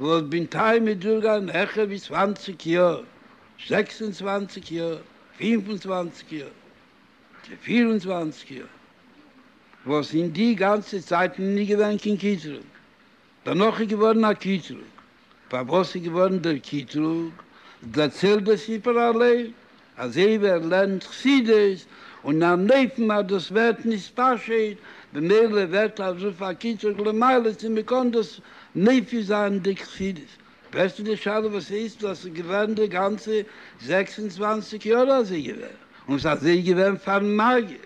וואס בינתיים איז דורכגעגאנגען העכער ווי צוואַנציק יאר, זעקס און צוואַנציק יאר, פֿינף און צוואַנציק יאר, צו פֿיר און צוואַנציק יאר, וואס אין די גאנצע צייט איז מען נישט געווען קיין קטרוג, דערנאך איז געווארן א קטרוג, פארוואס איז געווארן דער קטרוג, דערציילט דער ספר אליין, אזוי ווי ער לערנט חסידות און א נויפן אז דאס ווערט נישט פשוט, במילא ווערט אזויפיל א קיצוג למעלה צו מען קען דאס מפיל זיין די חסידות. פרעגסטו די שאלה וואס הייסט דאס איז געווען די גאנצע זעקס און צוואַנציק יאר אזוי געווען און ס'איז אזוי געווען פארן מגיד.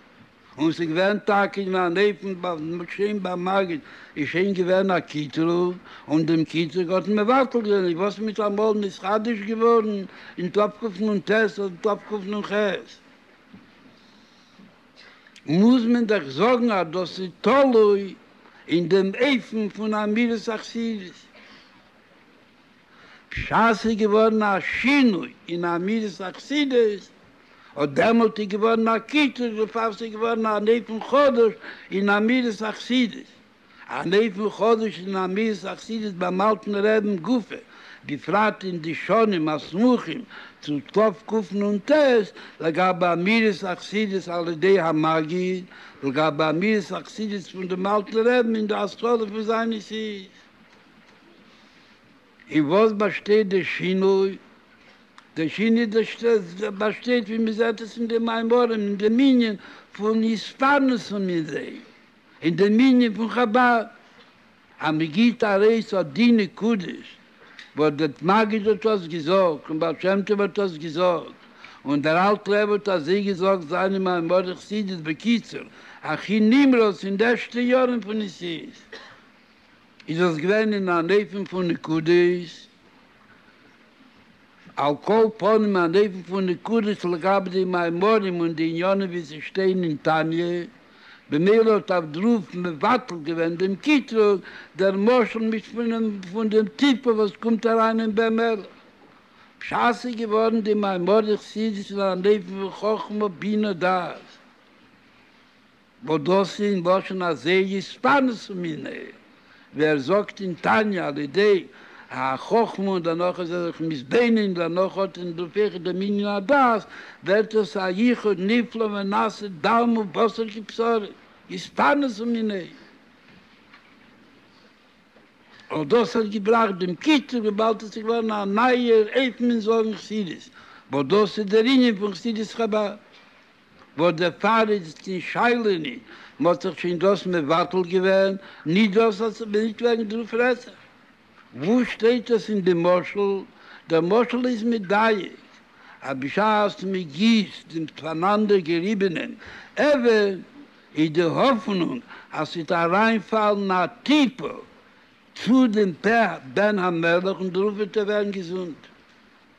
און ס'איז געווען טאקע אין אן עפן בית מדרשים ביי מגיד, איז שוין געווען א קיטרוג, און דעם קיטרוג האט מען מבטל געווען, איז וואס מיט אמאל נתחדש געווארן אין תשפ ק נ ט אדער תשפ ק נ ח, מוז מען דאך זאגן אז דאס איז תלוי אין דעם אופן פון אמירת החסידות. בשעת ס'איז געווארן א שינוי אין אמירת החסידות, אט דעמאלט איז געווארן א קיצוץ בעפאר ס'איז געווארן אן אופן חדש אין אמירת החסידות, אן אופן חדש אין אמירת החסידות ביים אלטן רעבין גופא, בפרט אין די שנים הסמוכים צו תקפ ק נ ט, לגבי אמירת החסידות על ידי המגיד, לגבי אמירת החסידות פון דעם אלטן רעבין אין די התחלה פון זיינע סידי'ס. אין וואס באשטייט די שינוי? די שינוי באשטייט ווי מען זעט עס אין די מאמרים אין די מנין פון התפרנס פון זיי, אין די מנין פון חבד, אז מען גיבט ארויס אט די נקודות וואס די מגיד האט אויס געזאגט און בעל שם טוב האט אויס געזאגט און דער אלטער רבי האט אזוי געזאגט זיינע מאמרי חסידות בקיצור הכי נמרץ אין די ערשטע יארן פון נשיאות איז עס געווען אין אן אופן פון נקודות, על כל פנים אן אופן פון נקודות לגבי די מאמרים און די עניינים ווי זיי שטייען אין תניא, במילא האט אב ד רב מבטל געווען דעם קטרוג, דער משל מיט פון דעם טיפה וואס קומט אריין אין בן מלך. פשט איז געווארן די מאמרי חסידות אין אן אופן פון חכמה בינה דעת. וואס דאס איז אין לשון הזה יסתמס מיניה, ווי ער זאגט אין תניא על ידי החכמה און דערנאך איז ער זיך מתבונן און דערנאך האט ער נפח דעם ענין הדעת, ווערט עס א ייחוד נפלא ונעשה דם ובשר כבשרי, יסתמס מיניה. אויף דאס האט געבראכט דעם קיצור וויבאלד עס איז געווארן א נייער אופן אין זאגן חסידות, וואס דאס איז דער ענין פון חסידות חבד. וואס דערפאר איז עס קיין שאלה ניט, מען האט זיך שוין דאס מבטל געווען, ניט דאס אז ס'וועט ניט ווערן דאס רצח. וואו שטייט דאס אין די משל? דער משל איז מדייק, אז בשעת מען גיסט דעם פאנאנדער געריבענעם עבר, איז די האפענונג אז ס'וועט אריינפאלן א טיפע צו דעם פאה בן המלך און דערויף וועט ער ווערן געזונט.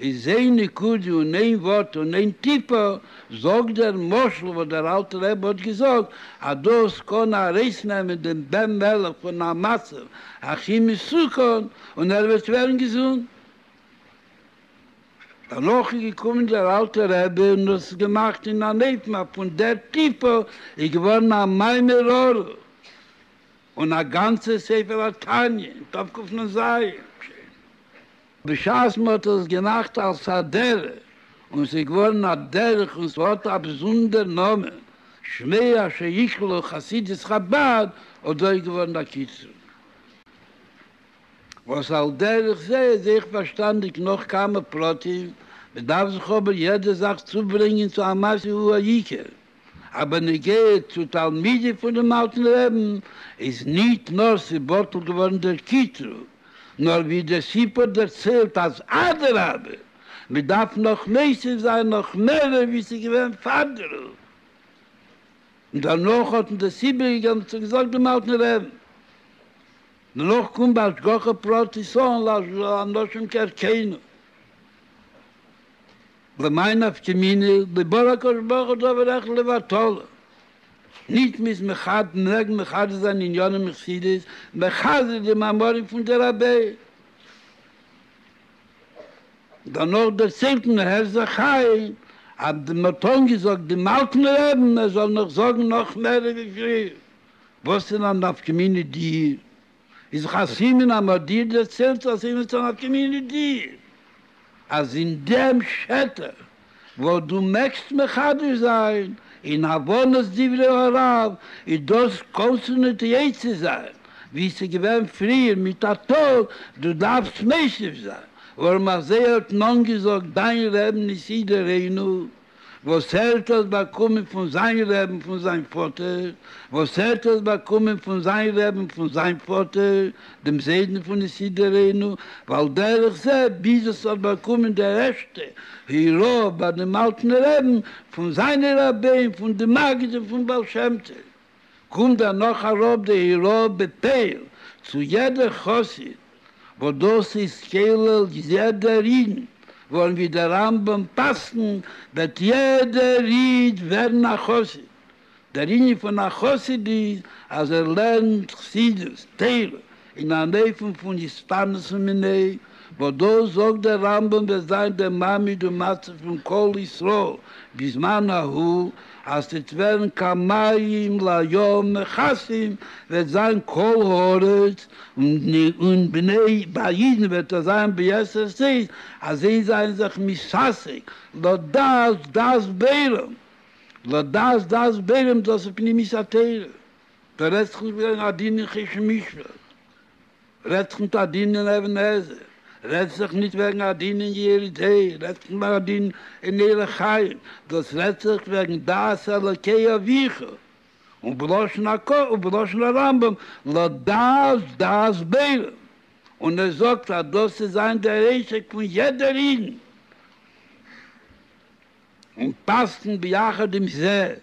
איז איין נקודה און איין ווארט און איין טיפא, זאגט דער משל וואס דער אלטער רבי האט געזאגט אז דאס קען ארויסנעמען דעם בן מלך פון א מצב הכי מסוכן און ער וועט ווערן געזונט. דערנאך איז געקומען דער אלטער רבי און האט עס געמאכט אין אן אופן אז פון דער טיפא איז געווארן א מים מרור און א גאנצע ספר התניא, תקנ ז. בשעת מען האט עס געמאכט אלס א דרך און עס איז געווארן א דרך און עס האט א באזונדער נאמען שמע אשר יקרא חסידות חבד אזוי געווארן א קיצור וואס על דרך זה איז אויך פארשטאנדיג נאך כמה פרטים מען דארף זיך אבער יעדע זאך צוברענגען צו א מעשה הוא העיקר. א בנוגע צו תלמידים פונעם אלטן רעבן, איז ניט נאר ס'בטל געווארן דער קיטרוג, נאר ווי דער סיפור דערציילט אז אדרבה, מ'דארף נאך מוסיף זיין נאך מערער ווי ס'געווען פאר די רב, און דערנאך האט מען דאס איבערגעגעבן צו געזאגט דעם אלטן רעבן. דערנאך קומט בה השגחה פרטית אן לאנשים כערכנו. למאי נפקא מינה, לבאר הקדוש ברוך הוא דבר אחד לבטלו, נישט מ'איז מחד מ'מעג מחדש זיין עניינים אין חסידות, מחזק די מאמרים פון די רבי'ן. דערנאך דערציילט מען הר' זאב חיים אז מען האט אנגעזאגט דעם אלטן רעבן ער זאל נאך זאגן נאך מער ווי פריער, וואס איז א נפקא מינה די איז דאך א סימן אז מ'האט דיר דערציילט אז אין איטס אן קאמיוניטי, אז אין דעם שטח וואס דו מעגסט מחדש זיין אין הבנת דברי הרב איז דאס קאנסענעטרירט צו זיין ווי ס'איז געווען פריער מיט א טאג, דו דארפסט מוסיף זיין, ווארום אזוי האט נאנט געזאגט דיין ר' מסידורינו. וואס ער האט דאס באקומען פון זיין רעבן פון זיין פאטער, וואס ער האט דאס באקומען פון זיין רעבן פון זיין פאטער, דעם זיידן פון יסודרינו, ועל דרך זה ביז עס האט באקומען די ערשטע הירא ביי דעם אלטן רעבן פון זיינע רבי'ן פון די מגיד און פון בעל שם טוב. קומט דערנאך אראפ די הוראה בפועל צו יעדע חסיד וואס דאס איז כולל יעדער איד, ווארום ווי דער רמב ם פסק'נט וועט יעדער איד ווערן א חסיד. דער ענין פון א חסיד איז אז ער לערנט חסידות, תורה, אין אן אופן פון הסתנות ומיניה, וואס דאס זאגט דער רמב ם וועט זיין דער מעמד און מצב פון כל ישראל בזמן ההוא, אז ס'וועט ווערן כמים לים מכסים, וועט זיין כל הארץ, און בני ביי אידן וועט עס זיין ביתר שאת, אז זיי זענען זיך משסע לדעת דעת בערם, לדעת דעת בערם דאס איז פנימיות התורה, דו רעדסט נישט ווי אן עדין אין חושן משפט, רעדסט נישט עדין אין אבן עזר, רעדסט זיך נישט וועגן עדין אין ירי זהב, רעדסט נישט וועגן עדין אין ערך חיים, דאס רעדט זיך וועגן דעת אלוקי אביך, און בלשון הק' ובלשון הרמב ם לא דעת דעת בעלם, און ער זאגט אז דאס איז זיין דער עסק פון יעדער אידן. און פסק'נט ביחד עם זה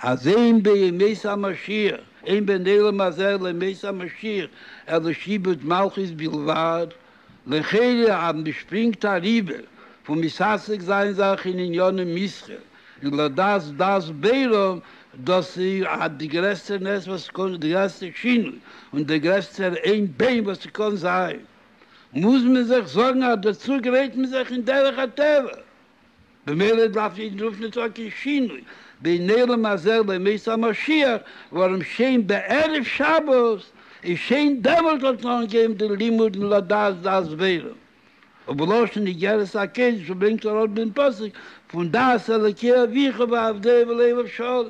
אז אין בימות המשיח, אין בין עולם הזה לימות המשיח, אלא שיבוד מלכות בלבד, לכאורה אז מען שפרינגט אריבער פון מסתעסק זיין זיך אין ענייני מסחר און לדעת דעת בערום, דאס איז די גרעסטע נס וואס ס'קען, די גרעסטע שינוי און דער גרעסטער עין בעין וואס ס'קען זיין, מוז מען זיך זארגן אז דער צוג רעדט מען זיך אין דרך הטבע, במילא דארף נישט דרשן ס'האט קיין שינוי, בין עולם הזה לימות המשיח, ווארום שוין בערב שבת איז שוין דעמאלט האט מען אנגעהויבן די לימודים לדעת דעת ועירום, ובלשון איגרת הקודש ברענגט ער אויך דעם פסוק פון דעת אלוקי אביך ועבדי ולבב שלם.